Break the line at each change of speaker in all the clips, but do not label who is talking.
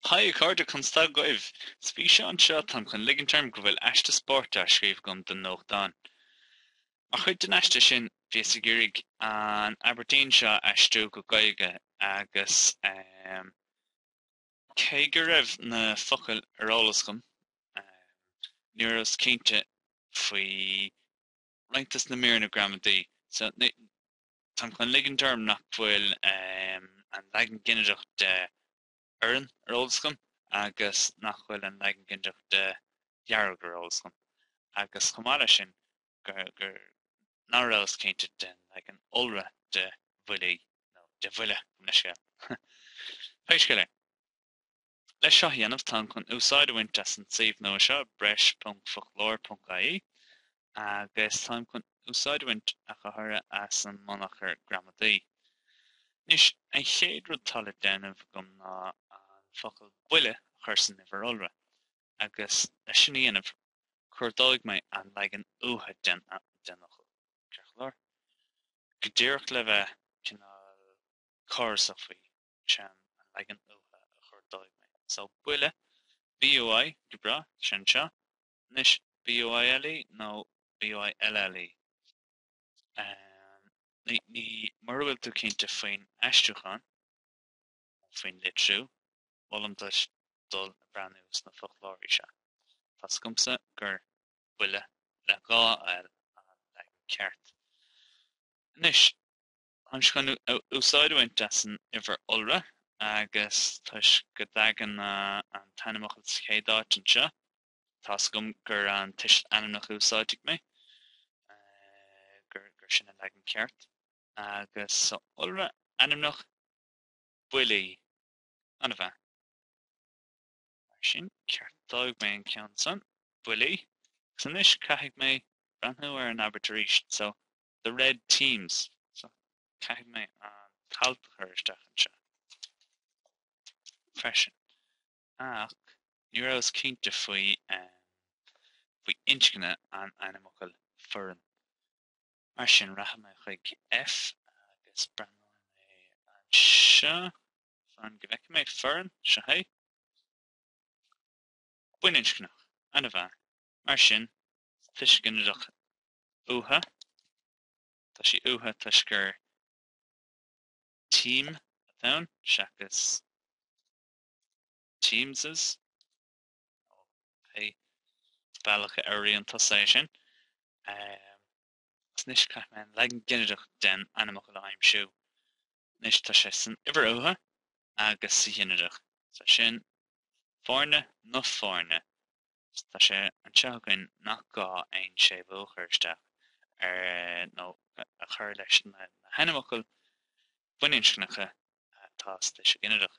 Haigh a chairde conas tá agaibh! Sa bhfíseán seo, táim chun ligint orm go bhfuil aiste spóirt á scríobh agam don nuachtán. Mar chuid den aiste sin, bhíos ag iarraidh an abairtín seo a aistriú go Gaeilge agus cé go raibh na focail ar eolas agam, ní rabhas cinnte faoi roinnt des na míreanna gramadaí, so Táim chun ligint orm nach bhfuil an leagan ginideach de 'fhoireann' ar eolas agam agus nach bhfuil an leagan ginideach de 'dhearg' ar eolas agam agus chomh maith leis sin gur ná rabhas cinnte den leagan iolra de 'bhuillí' nó de 'bhuille' gabh mo leithscéal. Pé scéal é. Leis seo a dhéanamh, táim chun úsáid a bhaint as an suíomh nua seo, breis.foclóir.ie, agus táim chun úsáid a bhaint, ach go háirithe, as an mbunachar gramadaí. Anois, an chéad rud atá le déanamh agam ná an focal buille a chur san uimhir iolra, agus leis sin a dhéanamh, cuardóidh mé an leagan uatha den fhocal, ceart go leor, go díreach le bheith cineál córasach faoi. sin an leagan uatha a chuardóidh mé. So, buille, BUI, go breá, sin seo. Anois, BUILE nó BUILLE? Ahem. Ní, ní, mura bhfuil tú cinnte faoin aistriúchán, nó faoin litriú, molaim duit dul ag breathnú sna foclóirí seo. Tá's agamsa gur buille, le dhá L, an leagan ceart. Anois. Táimse chun úsáid a bhaint as an uimhir iolra, agus toisc go dtagann an t-ainmfhocal sa chéad áit anseo, tá's agam gur an tuiseal ainmneach a úsáidfidh mé, gur, gur sin an leagan ceart. Agus sa iolra ainmneach, buillí, an-mhaith. Mar sin, ceartóidh mé an ceann san, buillí, agus anois caithfidh mé breathnú ar an abairt arís. So, The Red Teams, so caithfidh mé an t-alt a chur isteach anseo freisin. Ach ní rabhas cinnte faoi faoi inscne an ainmfhocail foireann. Mar sin rachaidh mé chuig F agus breathnóidh mé anseo fan go bhfeicfidh mé foireann, seo é. Baininscneach, an-mhaith. Mar sin tuiseal ginideach uatha, tá sí uatha toisc gur team atá ann seachas teams nó pé bealach a fhuaimníonn tusa é sin. Agus anois caithfidh mé an leagan ginideach den ainmfhocal a aimsiú. Anois tá sé san uimhir uatha agus sa ghinideach, so sin foirne, nó foirne. Tá sé anseo againn nach gá aon séimhiú a chur isteach air nó a chur leis na hainmfhocail baininscneacha atá sa tuiseal ginideach.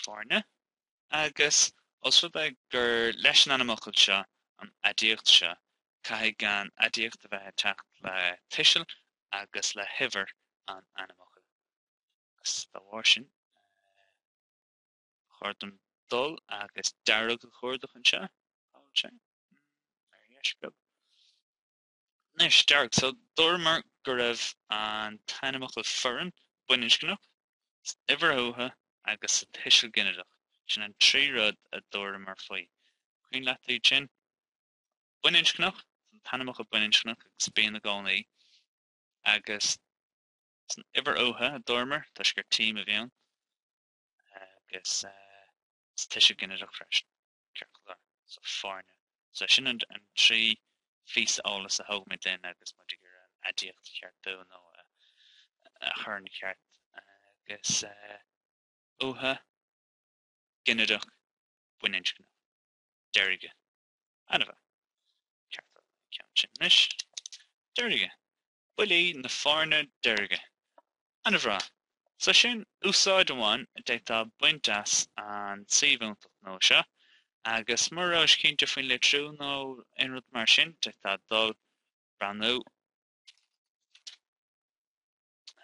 Foirne agus, ós rud é gur leis an ainmfhocal seo an aidiacht seo, caithfidh an aidiacht a bheith ag teacht le tuiseal agus le huimhir an ainmfhocail. Agus dá bharr sin, chóir dom dul agus dearg a chuardach anseo, cá bhfuil sé? ar dheis beag. Anois, dearg, so dúramar go raibh an t-ainmfhocal foireann, baininscneach, san uimhir uatha agus sa tuiseal ginideach, sin an trí rud a dúramar faoi. Cuimhin leat iad sin? Baininscneach, an t-ainmfhocal baininscneach agus bíonn i gcónaí, agus san uimhir uatha, a dúramar, toisc gur team a bhí ann. agus sa tuiseal ginideach freisin ciorclár so foirne. So sin an trí phíosa eolais a thógaimid linn agus muid ag iarraidh an aidiacht a cheartú nó a chur ina cheart agus uatha, ginideach, baininscneach, deirge, ana-mhaith, ceartú an ceann sin anois, deirge, buillí na foirne deirge. Ana-bhreá. So sin úsáid amháin a d'fhéadfá baint as an suíomh iontach nua seo agus mura rabhais cinnte faoin litriú nó aon rud mar sin d'fhéadfá dul breathnú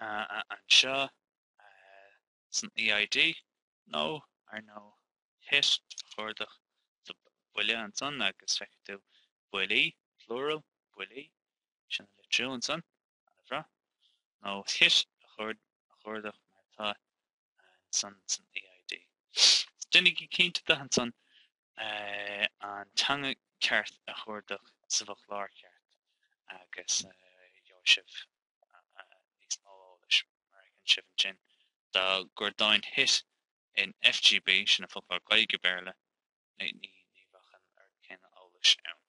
anseo. san EID, nó, ar ndóigh, hit, a chuardach, buille ansan agus feicfidh tú buillí, plural, buillí, sin an litriú ansan, ana-bhreá, nó hit a chuardach mar atá ansan san EID. Déanaigí cinnte de ansan an teanga ceart a chuardach sa bhfoclóir cheart agus gheobhaidh sibh níos mó eolais, mar a fheiceann sibh ansin, dá gcuardóinn hit in FGB, sin an foclóir Gaeilge-Béarla, ní bheadh an oiread céanna eolais ann.